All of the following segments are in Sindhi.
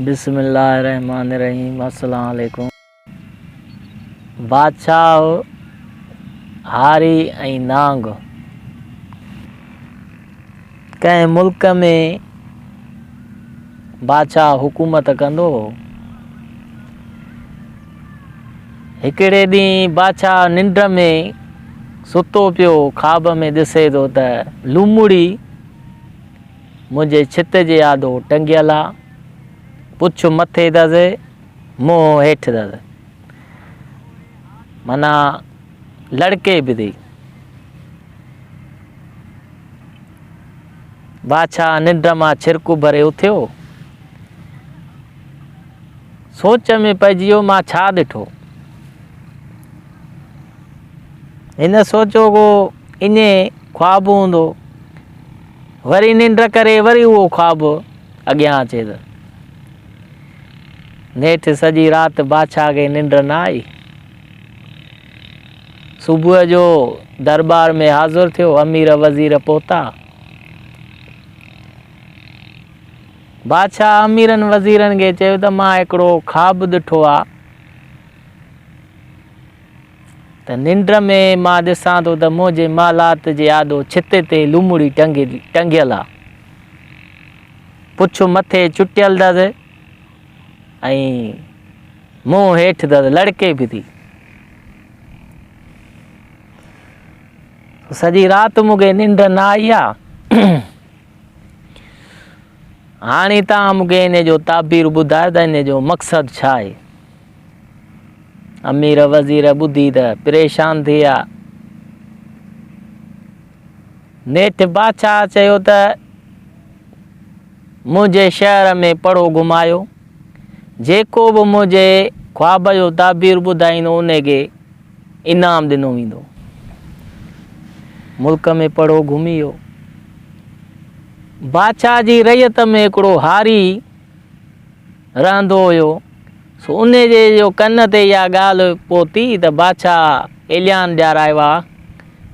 بسم الله الرحمٰن الرحيم السلام عليڪم بادشاهه هاري ۽ نانگ ڪنهن ملڪ ۾ بادشاهه حڪومت ڪندو هو هڪڙي ڏينهن بادشاهه ننڊ ۾ ستو پيو خواب ۾ ڏسي ٿو ته لومڙي منهنجي ڇت جي آڏو ٽنگيل آ، پڇ مٿي دز، منهن هيٺ دز. معنيٰ لڙڪي به ٿي. بادشاهه ننڊ مان ڇرڪ اڀري اٿيو. سوچ ۾ پئجي ويو مان ڇا ڏٺو. هن سوچيو هو انهي خواب هوندو. وري ننڊ ڪري وري اهو خواب اڳيان اچي ته نيٺ سڄي رات بادشاهه کي ننڊ نه آئي صبح جو دربار ۾ حاضر ٿيو امير وزير پهتا بادشاهه اميرن وزيرن کي چيو ته مان هڪڙو خواب ڏٺو آ ته ننڊ ۾ مان ڏسان ٿو ته منهنجي محلات جي آڏو ڇتي تي لومڙي ٽنگيل آ. پڇ مٿي چٽيل اٿس ۽ منهن هيٺ اٿس لڙڪي به ٿي. سڄي رات مون کي ننڊ نه آئي آ. هاڻي توهان مون کي ان جو تعبير ٻڌايو ته ان جو مقصد ڇا آهي؟ امير وزير ٻڌي ته پريشان ٿي ويا. نيٺ بادشاهه چيو ته منهنجي شهر ۾ پڙو گهمايو. جيڪو به منهنجي خواب جو تعبير ٻڌائيندو ان کي انعام ڏنو ويندو. ملڪ ۾ پڙو گهمي ويو. بادشاهه جي رعيت ۾ هڪڙو هاري رهندو هيو، سو ان جي جو ڪن تي اها ڳالهه پهتي ته بادشاهه ايليان ڄارايو آ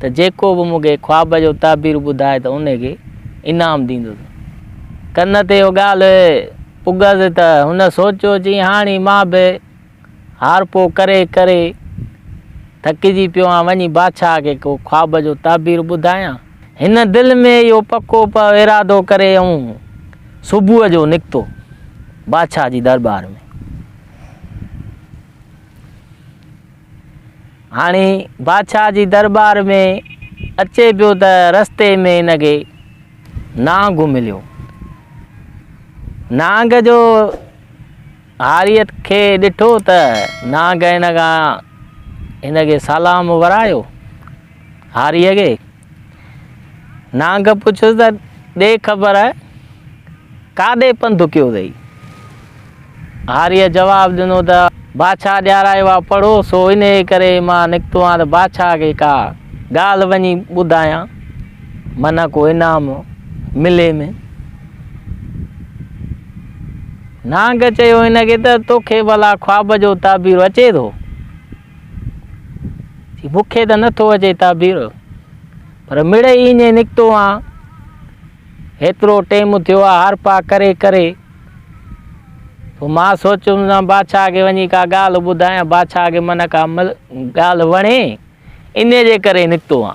ته جيڪو به مون کي خواب جو تعبير ٻڌائي ته ان کي انعام ڏيندس. ڪن تي اها ڳالهه پڳس ته هن سوچيو چيائين هاڻي مان به هارپو ڪري ڪري ٿڪجي پيو آهيان، وڃي بادشاهه کي ڪو خواب جو تعبير ٻڌايان. هن دل ۾ اهو پڪو پڪو ارادو ڪري ائون صبح جو نڪتو بادشاهه جي درٻار ۾. هاڻي بادشاهه جي درٻار ۾ اچي پيو ته رستي ۾ هن کي نانگ مليو. نانگ جو هاريت کي ڏٺو ته نانگهين کان هن کي سلام ورايو. هاريء کي نانگهه پڇيس ته ڏي خبر ڪاڏي پنڌ ڪيو اٿئي؟ هاريء جواب ڏنو ته بادشاهه ڏيارايو آ پڙهو سو انهيء ڪري مان نڪتو آهيان ته بادشاهه کي ڪا ڳالهه وڃي ٻڌايان منهن ڪو انعام ملي ۾. نانگ چيو هن کي ته توکي ڀلا خواب جو تعبير اچي ٿو؟ چي مون کي ته نٿو اچي تعبير پر مڙئي ائين نڪتو آ هيترو ٽيم ٿيو آ هر پا ڪري ڪري پوء مان سوچيم ته بادشاهه کي وڃي ڪا ڳالهه ٻڌايان بادشاهه کي من ڪا مل ڳالهه وڻي ان جي ڪري نڪتو آ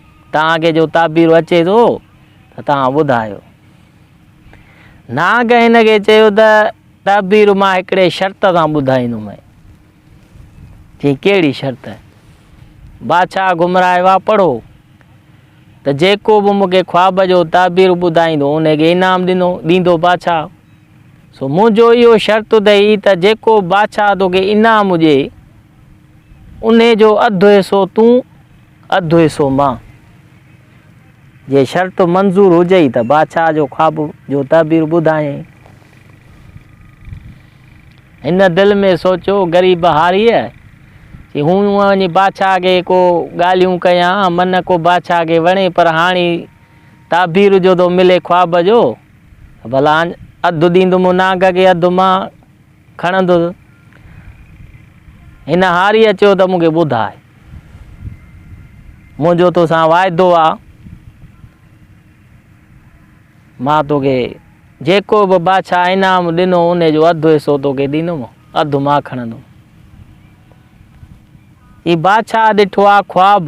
توهان کي جو تعبيرو اچي ٿو ته توهان ٻڌايو. نانگ هن کي چيو ته تعبيرو مان هڪڙي شرط سان ٻڌائيندومئين. چيائين ڪهڙي شرط؟ بادشاهه گمراهي وا پڙهو ته جيڪو به مون کي خواب جو تعبيرو ٻڌائيندو ان کي انعام ڏنو ڏيندو بادشاهه. سو منهنجو اهو شرط اٿئي ته جيڪو بادشاهه توکي انعام ڏئي انهي جو اڌ حصو تون اڌ حصو مان جي شرط منظور هجئي ته بادشاهه جو خواب جو تعبير ٻڌايئين. هن دل ۾ سوچيو غريب هاريء چي هون وڃي بادشاهه اڳي ڪو ڳالهيون ڪيان من ڪو بادشاهه کي وڻي پر هاڻي تعبير جو ٿو ملي خواب جو ته ڀلا اڌ ڏيندم نانگ کي اڌ مان کڻندس. هن هاريء چيو ته مون کي ٻڌاء. منهنجو تو سان واعدو آ. مان توکي جيڪو به بادشاهه انعام ڏنو ان جو اڌ حصو توکي ڏيندوم، اڌ مان کڻندوم. هي بادشاهه ڏٺو آ خواب.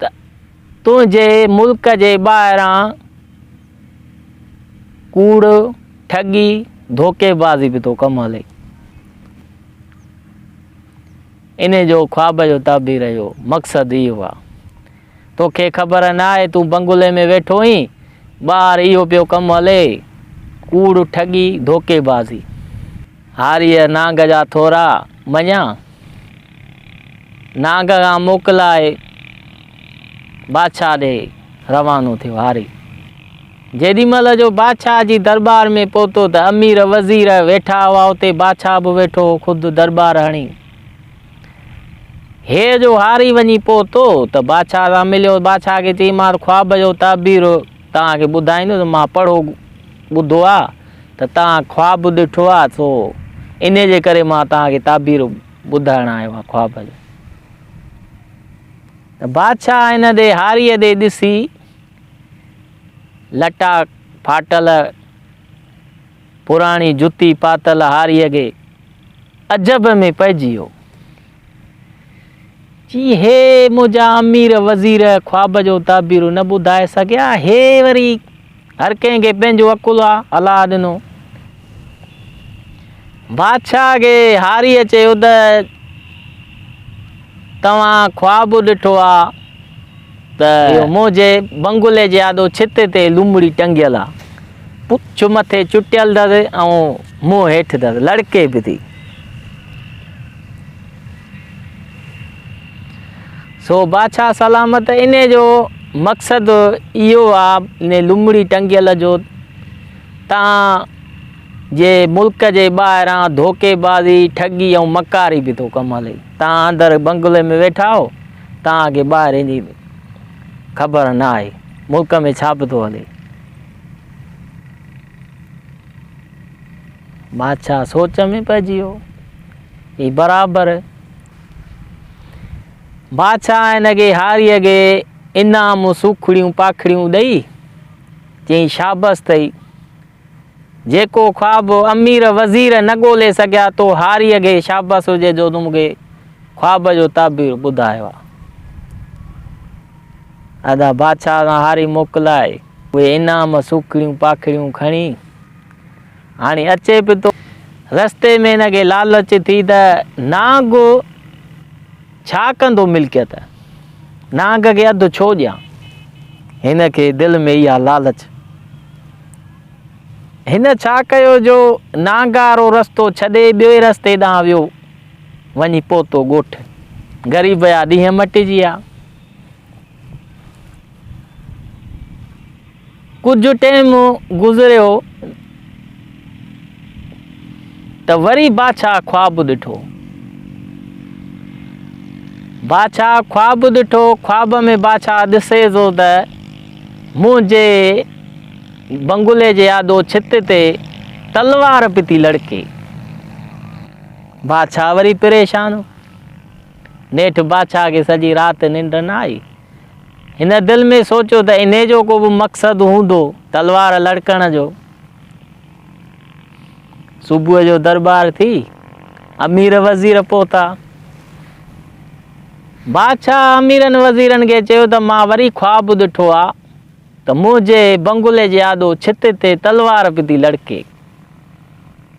ته تنهنجي ملڪ جي ٻاهران ڪوڙ، ٺڳي، ڌوڪي بازي به ٿو ڪم هلي. ان جو خواب جو تعبير اهو مقصد اهو آ. توکي خبر نه آهي تون بنگلي ۾ ويٺو هين، ٻاهر اهو پيو ڪم هلي، ڪوڙ، ٺڳي، ڌوڪي بازي. هاريء نانگ جا ٿورا مڃيا، نانگ کان موڪلائي بادشاهه ڏي روانو ٿيو. هاري جيڏي مهل جو بادشاهه جي درٻار ۾ پهتو ته امير وزير ويٺا هئا اتي بادشاهه به ويٺو هو خود درٻار هڻي هيء جو هاري وڃي پهتو ته بادشاهه سان مليو بادشاهه کي چيمانس خواب جو تعبير توهان کي ٻڌائيندس مان پڙهو ٻڌو آ ته توهان خواب ڏٺو آ سو انهي جي ڪري مان توهان کي تعبير ٻڌائڻ آيو آهيان خواب جون. ته بادشاهه هن ڏي هاريء ڏي ڏسي لٽا ڦاٽل پراڻي جتي پاتل هاريء کي عجب ۾ پئجي ويو. چي هي منهنجا امير وزير خواب جون تعبيرون نه ٻڌائي سگهيا هي وري هر ڪنهن کي پنهنجو عقل آ هلاء ڏنو بادشاهه کي هاريء چيو ته توهان خواب ڏٺو آ ته منهنجي بنگلي جي آڏو ڇت تي لومڙي ٽنگيل آ پڇ مٿي چٽيل اٿس ۽ منهن هيٺ اٿس لڙڪي به ٿي سو بادشاهه سلامت انهي جو مقصد اهو آ انهي لمڙي ٽنگيل جو تان جي ملڪ جي ٻاهران ڌوڪي بازي ٺڳي ۽ مڪاري به ٿو ڪم هلي تان اندر بنگلي ۾ ويٺا آهو تان کي ٻاهرين جي خبر نه آهي ملڪ ۾ ڇا به ٿو هلي بادشاهه سوچ ۾ پئجي ويو. هي برابر بادشاهه هن کي هاري اڳي انعام سوکڙيون پاکڙيون ڏئي چيائين شابس اٿئي. جيڪو خواب امير وزير نه ڳولي سگهيا تو هاري اڳي شابس هجي جو تون مون کي خواب جو تعبير ٻڌايو آ. ادا بادشاهه سان هاري موڪلائي. اهي انعام سوکڙيون پاکڙيون کڻي هاڻي اچي به ٿو. رستي ۾ هن کي لالچ ٿي ته نانگ ڇا ڪندو ملڪيت، نانگ کي اڌ ڇو ڏيان؟ هن کي دل ۾ اها لالچ. هن ڇا ڪيو جو نانگ وارو رستو ڇڏي ٻئي رستي ڏانهن ويو، وڃي پهتو ڳوٺ. غريب جا ڏينهن مٽجي ويا. ڪجهه ٽيم گذريو ته وري بادشاهه خواب ڏٺو. بادشاهه خواب ڏٺو، خواب ۾ بادشاهه ڏسي ٿو ته منهنجي بنگلي جي آڏو ڇت تي تلوار پتي لڙڪي. بادشاهه وري پريشان هو. نيٺ بادشاهه کي سڄي رات ننڊ نه آئي. هن دل ۾ سوچيو ته انهي جو ڪو به مقصد هوندو تلوار لڙڪڻ جو. صبح جو دربار ٿي امير وزير پهتا. بادشاهه اميرن وزيرن کي چيو ته مان وري خواب ڏٺو آ ته منهنجي بنگلي جي آڏو ڇت تي تلوار پي ٿي لڙڪي.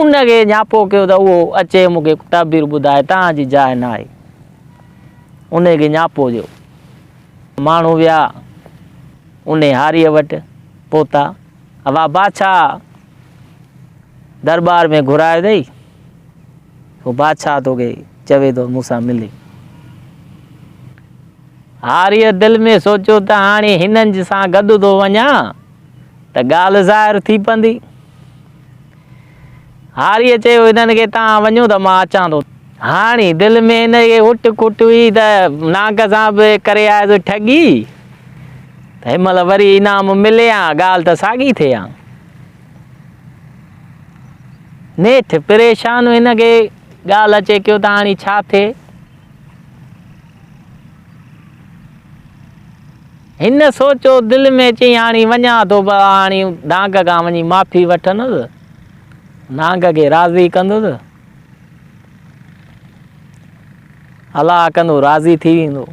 ان کي نياپو ڪيو ته اهو اچي مون کي تعبير ٻڌائي تان جي جاء نه آهي. ان کي نياپو ڏيو. ماڻهو ويا ان هاريء وٽ پهتا. اها بادشاهه درٻار ۾ گهرائي اٿئي. اهو بادشاهه تو کي چوي ٿو مون سان ملي. هاريء دل ۾ سوچيو ته هاڻي هنن سان گڏ ٿو وڃان ته ڳالهه ظاهر ٿي پوندي. هاريء چيو، انهن کي تان وڃو ته مان اچان ٿو. هاڻي دل ۾ هن کي اٽ ڪٽ هئي ته نانگ سان به ڪري آيس ٺڳي، ته هن مهل وري انعام ملي هان، ڳالهه ته ساڳي ٿئي هان. نيٺ پريشان هن کي ڳالهه اچي ڪيو ته هاڻي ڇا ٿئي؟ هن سوچيو دل ۾ چيائين هاڻي وڃان ٿو پر هاڻي نانگ کان وڃي معافي وٺندس نانگ کي راضي ڪندس الاء ڪندو راضي ٿي ويندو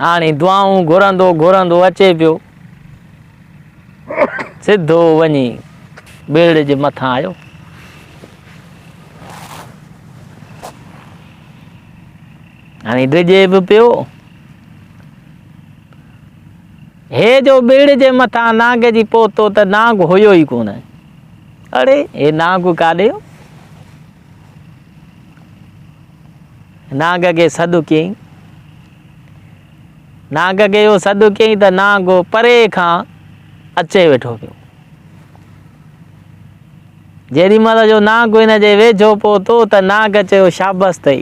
هاڻي دعائون گهرندو گهرندو اچي پيو سڌو وڃي ٻيڙ جي مٿان آيو هاڻي ڊڄي به پيو. هي جو ٻيڙ جي مٿان نانگ جي پهتو ته نانگ هيو ئي ڪونه. اڙي هي نانگ ڪاڏي هو؟ نانگ کي سڏ ڪيئي. نانگ کي اهو سڏ ڪيئي ته نانگ پري کان اچي ويٺو پيو. جيڏي مهل جو نانگ هن جي ويجهو پهتو ته نانگ چيو شابس اٿئي.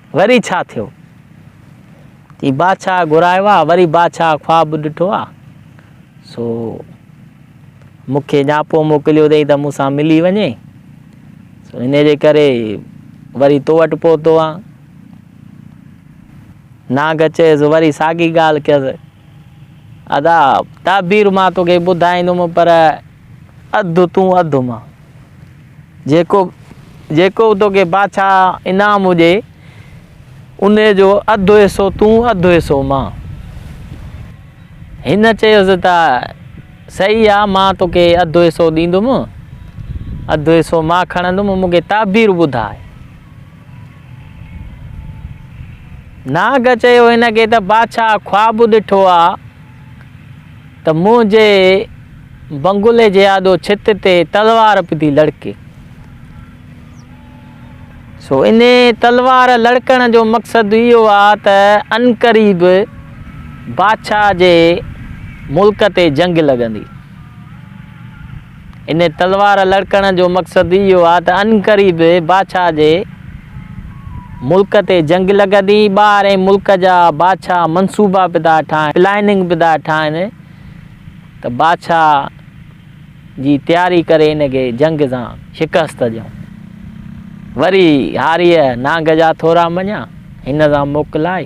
وري ڇا ٿيو؟ چي بادشاهه گهرايو آ، وري بادشاهه خواب ڏٺو آ، سو مون کي نياپو موڪليو اٿئي ته مون سان ملي وڃي، سو ان جي ڪري وري تو وٽ پهتو آ. نانگ چيس وري ساڳي ڳالهه ڪيس، ادا تعبير مان توکي ٻڌائيندم پر اڌ تون اڌ مان. جيڪو جيڪو به توکي بادشاهه انعام هجي، انهي جو اڌ حصو تون اڌ حصو مان. هن چيس ته صحيح آ، مان توکي اڌ حصو ڏيندم، اڌ حصو مان کڻندم، مون کي تعبير ٻڌاء. ناگ چيو هن کي ته بادشاهه خواب ڏٺو آ، ته منهنجي بنگلي جي آڏو ڇت تي تلوار به ٿي لڙڪي. سو انهي تلوار لڙڪڻ جو مقصد اهو آ ته عنقريب بادشاهه جي ملڪ تي جنگ لڳندي. ان تلوار لڙڪڻ جو مقصد اهو آ ته عنقريب بادشاهه جي ملڪ تي جنگ لڳندي. ٻاهرئين ملڪ جا بادشاهه منصوبا پي ٿا ٺاهن، پلاننگ پي ٿا ٺاهن ته بادشاهه جي تياري ڪري ان کي جنگ سان شڪست ڏيون. وري هاريء نانگ جا ٿورا مڃيا، هن سان موڪلائي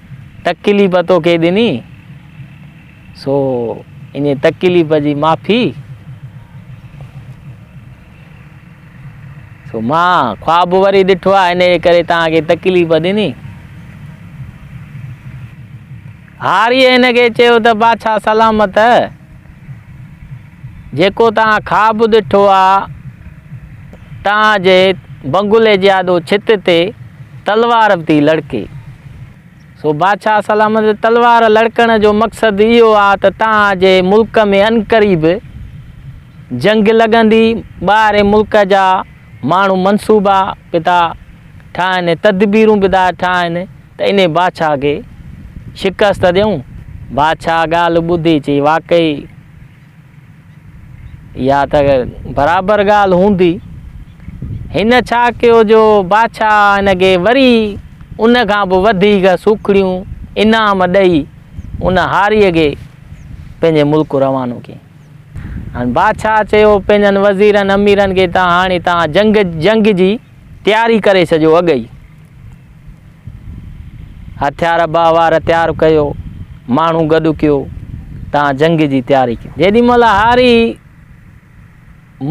تڪليف توکي ڏني، سو انهيء تڪليف جي معافي، سو مان خواب وري ڏٺو آهي، انهيء ڪري توهان کي تڪليف ڏني. هاريء هن کي چيو ته بادشاهه سلامت جيڪو توهان خواب ڏٺو آ، توهان جي بنگلي جي آڏو ڇت تي تلوار به ٿي لڙڪي. سو بادشاهه سلامت جي تلوار لڙڪڻ جو مقصد اهو آ ته توهان جي ملڪ ۾ عنقريب جنگ لڳندي، ٻاهرين ملڪ جا ماڻهو منصوبا به ٿا ٺاهن ۽ تدبيرون به ٿا ٺاهن، ته انهيء بادشاهه کي شڪست ڏيئون. بادشاهه ڳالهه ٻڌي چئي، واقعي اها ته برابر ڳالهه هوندي. هن ڇا ڪيو جو بادشاهه هن کي وري ان کان به وڌيڪ سوکڙيون انعام ڏئي ان هاريء کي پنهنجي ملڪ روانو ڪيائين. هاڻي بادشاهه چيو پنهنجن وزيرن اميرن کي ته هاڻي توهان جنگ جنگ جي تياري ڪري ڇڏيو اڳ ئي. هٿيار ابا وار تيار ڪيو، ماڻهو گڏ ڪيو، تان جنگ جي تياري ڪيو. جيڏي مهل هاري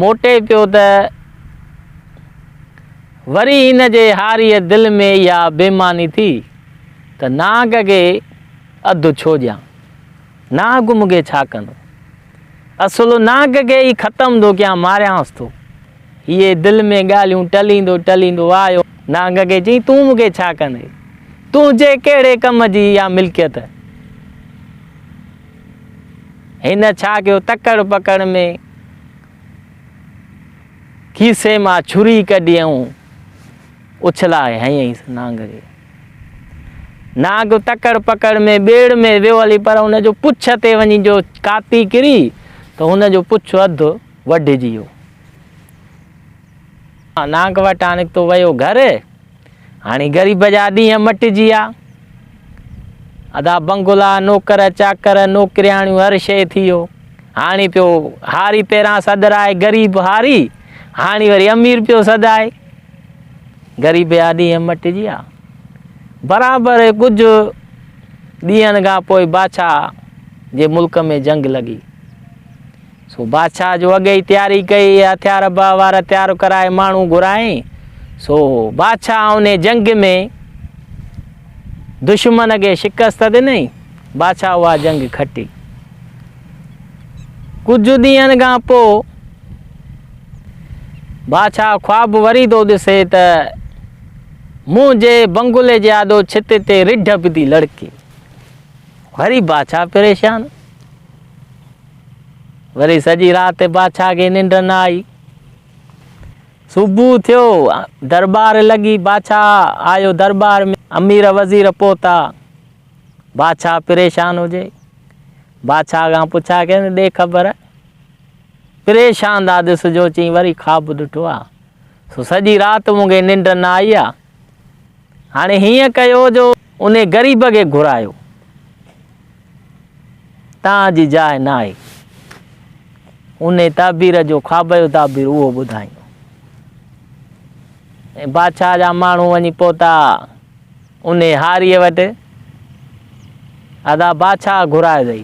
موٽي پيو ته وري هن جي هاريء دل ۾ اها بيماني ٿي ته نانگ کي اڌ ڇو ڏيان. ناگ مونکي ڇا ڪندو. اصل ناگ کي ئي ختم ٿو ڪيان ماريانس ٿو. هيء دل ۾ ڳالهيون ٽليندو ٽليندو آيو. ناگ کي چيائين تون مونکي ڇا ڪندي. تنهنجي ڪهڙي ڪم جي اها ملڪيت. هن ڇا ڪيو تڪڙ پڪڙ ۾ کيسي مان ڇري ڪڍي ۽ اڇلائي هنئيس ناگ کي. ناگ تڪڙ پڪڙ ۾ ٻيڙ ۾ ويو هلي پر ان جو پڇ تي وڃي جو ڪاپي ڪري ته هن جو پڇ اڌ وڍجي ويو. ناگ وٽان نڪتو ويو گهر، هاڻي غريب جا ڏينهن مٽجي ويا. ادا بنگلا، نوڪر چاڪر، نوڪرياڻيون هر شيء ٿي ويو. هاڻي پيو هاري پيران سڏرائي، غريب هاري، هاڻي وري امير پيو سڏائي. غريبي آڏي ائين مٽجي ها. برابر ڪجهه ڏينهن کان پوء بادشاهه جي ملڪ ۾ جنگ لڳي. سو بادشاهه جو اڳي ئي تياري ڪئي، هٿيار به وار تيار ڪرائي ماڻهو گهرائين. سو بادشاهه ان جنگ ۾ دشمن کي شڪست ڏنئي، بادشاهه اها جنگ کٽي. ڪجهه ڏينهن کان پوء بادشاهه خواب وري ٿو ڏسي ته منهن جي بنگلي جي آڏو ڇت تي رڍ به ٿي لڙڪي وري بادشاهه پريشان وري سڄي رات بادشاهه کي ننڊ نه آئي صبح ٿيو دربار لڳي بادشاهه آيو دربار ۾ امير وزير پهتا بادشاهه پريشان هجي بادشاهه کان پڇا ڪيائين ڏي خبر پريشان ٿا ڏس جو چئين وري خواب ڏٺو آ سو سڄي رات مون کي ننڊ نه آئي آ هاڻي هيئن ڪيو جو انهي غريب کي گهرايو تان جي جاء نه آهي انهي تعبير جو خواب جو تعبير اهو ٻڌائين ۽ بادشاهه جا ماڻهو وڃي پهتا انهي هاريء وٽ ادا بادشاهه گهرائي اٿئي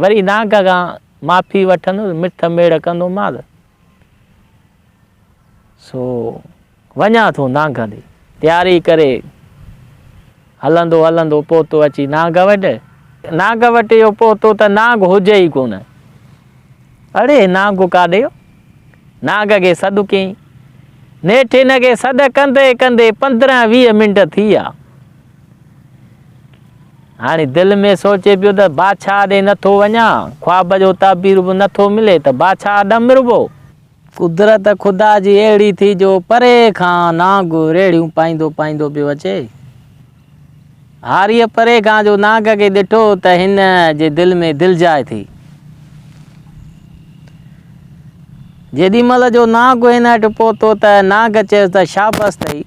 وري نانگ کان معافي وٺندس، مٺ ميڙ ڪندومانس. سو وڃان ٿو نانگ ڏي. تياري ڪري هلندو هلندو پهتو اچي نانگ وٽ. نانگ وٽ اهو پهتو ته نانگ هجي ئي ڪونه. اڙي نانگ ڪاڏي ويو؟ نانگ کي سڏ ڪيائين. نيٺ هن کي سڏ ڪندي ڪندي پندرهن ويهه منٽ ٿي ويا. هاڻي دل ۾ سوچي پيو ته بادشاهه ڏي نه ٿو وڃان، خواب جو تعبير به نه ٿو ملي ته بادشاهه ڏانهن مربو. قدرت خدا جي اهڙي ٿي جو پري کان نانگ ريڙهيون پائيندو پائيندو پيو اچي. هاريء پري کان جو نانگ کي ڏٺو ته هن جي دل ۾ دلجاء ٿي. جيڏي مهل جو نانگ هن اٺ پهتو ته نانگ چيس ته شابس اٿئي.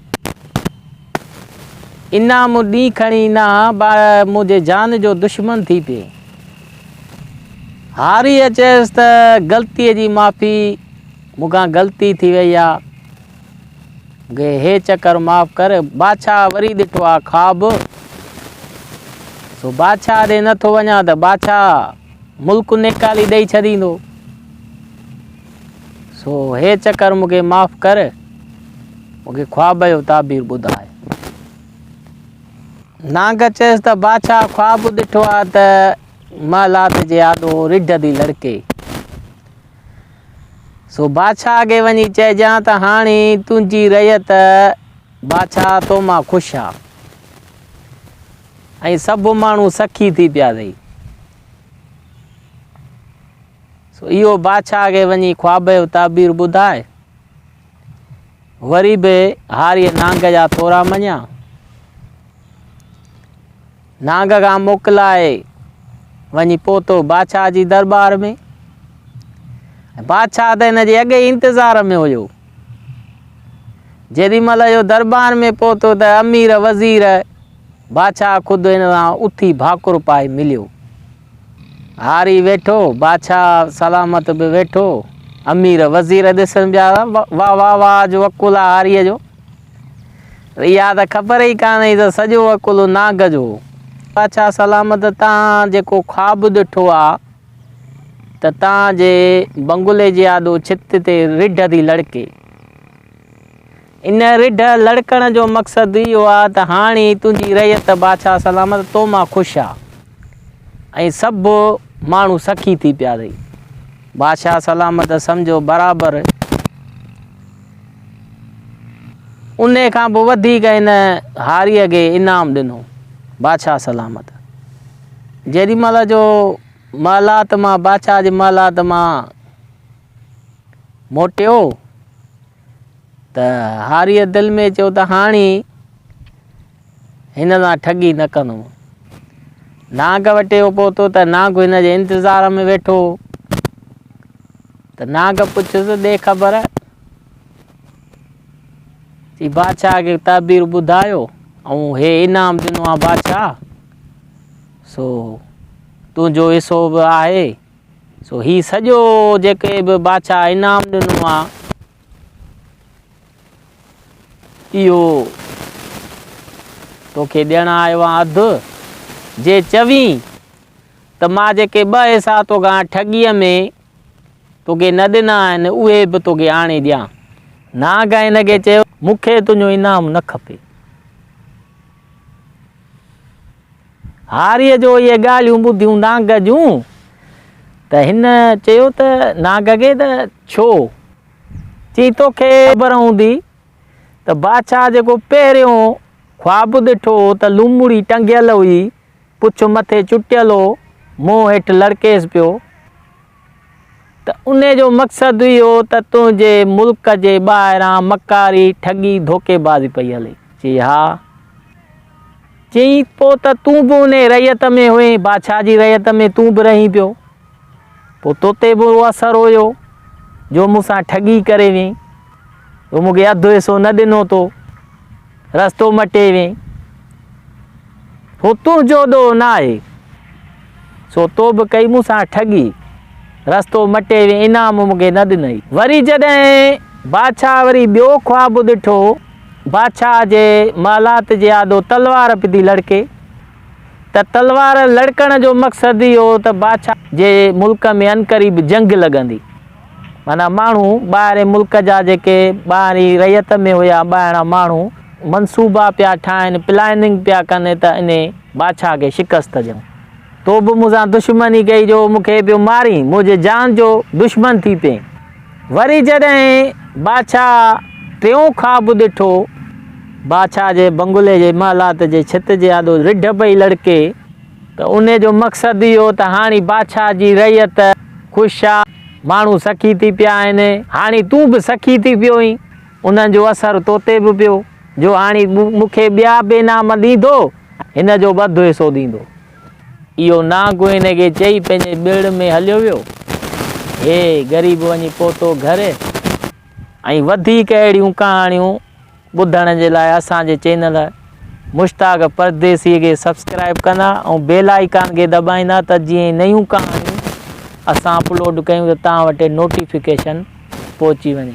انا مون ڏينهن کڻي انا با منهنجي جان جو دشمن ٿي پئي. هاريء چيس ته غلطيء جي معافي، مون کان غلطي ٿي وئي آ. مونکي هي چڪر معاف ڪر. بادشاهه وري ڏٺو آ خواب. سو بادشاهه ڏي نه ٿو وڃان ته بادشاهه ملڪ نيڪالي ڏئي ڇڏيندو. سو هي چڪر مون کي معاف ڪر، مون کي خواب جو تعبير ٻڌاء. نانگ چيس ته بادشاهه خواب ڏٺو آ ته محلات جي آڏو رڍ ٿي لڙڪي. سو بادشاهه کي وڃي چئجان ته هاڻي تنهنجي رعيت بادشاهه تو مان خوش آ. ۽ سڀ ماڻهو سخي ٿي پيا اٿئي. سو اهو بادشاهه کي وڃي خواب جو تعبير ٻڌائي، وري به هاريء نانگ جا ٿورا مڃيا. نانگ کان موڪلائي وڃي پهتو بادشاهه جي دربار ۾ بادشاهه ته هن جي اڳ ئي انتظار ۾ هيو جيڏي مهل اهو دربار ۾ پهتو ته امير وزير بادشاهه خود هن سان اٿي ڀاڪر پائي مليو هاري ويٺو، بادشاهه سلامت به ويٺو، امير وزير ڏسن پيا ته واهه واهه واهه اڄ وڪل آ هاريء جو. اها ته خبر ئي ڪانه هئي ته سڄو وڪل ناگ جو هو. بادشاهه سلامت تان جيڪو خواب ڏٺو آ ته تان جي بنگلي جي آڏو ڇت تي رڍ ٿي لڙڪي. ان رڍ لڙڪڻ جو مقصد اهو آ ته هاڻي تنهنجي رعيت بادشاهه سلامت تو مان خوش آ ۽ سڀ ماڻهو سخي ٿي پيا رهي. بادشاهه سلامت سمجهيو برابر ان کان به وڌيڪ ان هاريء کي انعام ڏنو. بادشاهه سلامت جيڏي مهل جو محلات مان بادشاهه جي محلات مان موٽيو، ته هاريء دل ۾ چيو ته هاڻي هن سان ٺڳي نه ڪندم. نانگ وٽ اهو پهتو ته نانگ هن جي انتظار ۾ ويٺو هو ته نانگ پڇيس ڏي خبر چي بادشاهه کي تعبير ٻڌايو ۽ هي انعام ڏنو آ بادشاهه سو تنهنجو حصو به آهي سو هي سڄو جيڪي به بادشاهه انعام ڏنو آ اهو توکي ڏيڻ آيو آ اڌ جي چوين ته مان جيڪي ٻه حصا توکان ٺڳيء ۾ توکي نه ڏنا آهن اهي به توکي آڻي ڏيان. نانگ هن کي چيو، مون کي تنهنجو انعام نه کپي. هاريء جو اهي ڳالهيون ٻڌيون نانگ جون ته هن چيو ته نانگ کي ته ڇو؟ چي توکي خبر هوندي ته بادشاهه جيڪو پهريون خواب ڏٺو هو ته لومڙي ٽنگيل هئي، پڇ مٿي چٽيل هو، منهن هيٺ لڙڪيس پيو. ته ان جو مقصد اهو ته تنهنجي ملڪ جي ٻاهران مڪاري، ٺڳي، ڌوڪي بازي پئي هلي؟ چي ها. چيائين پوء ته تون به انهيء رعيت ۾ هئين، بادشاهه جي رعيت ۾ تون به رهين پيو، پوء توتي به اهو اثر هيو جو مون سان ٺڳي ڪري ويئين، تو مون کي اڌ حصو نه ڏنو تو رستو مٽي وين هو تنهنجو ڏوهه نه آهي سو تو به ڪئي مون سان ٺڳي رستو مٽي وين انعام مون کي نه ڏنئي وري جڏهن بادشاهه وري ٻيو خواب ڏٺو بادشاهه جي محلات جي آڏو تلوار پي ٿي لڙڪي ته تلوار لڙڪڻ جو مقصد اهو ته بادشاهه جي ملڪ ۾ انقريب جنگ لڳندي معنيٰ ماڻهو ٻاهرين ملڪ جا جيڪي ٻاهرين رعيت ۾ هيا ٻاهران ماڻهو منصوبا پيا ٺاهن پلاننگ پيا ڪن ته انهي بادشاهه کي شڪست ڏيون تو به مون سان دشمني ڪئي جو مون کي پيو مارين منهنجي جان جو دشمن ٿي پين وري جڏهن بادشاهه ٽيون خواب ڏٺو بادشاهه جي بنگلي جي محلات جي ڇت جي آڏو رڍ پئي لڙڪي ته انهي جو مقصد اهو ته هاڻي بادشاهه جي رعيت خوش آ ماڻهو سخي ٿي پيا آهن، هاڻي تون به سخي ٿي پيو اهين، انهن جو اثر تو تي به پيو، جو هاڻي مون کي ٻيا به انعام ڏيندو، هن جو به اڌ حصو ڏيندو. اهو نانگ هن کي چئي پنهنجي ٻيڙ ۾ هليو ويو. هي غريب وڃي پهتو گهر. ۽ وڌيڪ اهڙيون ڪهاڻيون ٻڌڻ جي لاء اسان جي چينل مشتاق پرديسي کي سبسڪرائب ڪندا ۽ بيل آئيڪان کي دٻائيندا ته جيئن ئي نيون ڪهاڻيون اسان اپلوڊ ڪيون ته توهان وٽ نوٽيفڪيشن پهچي وڃي.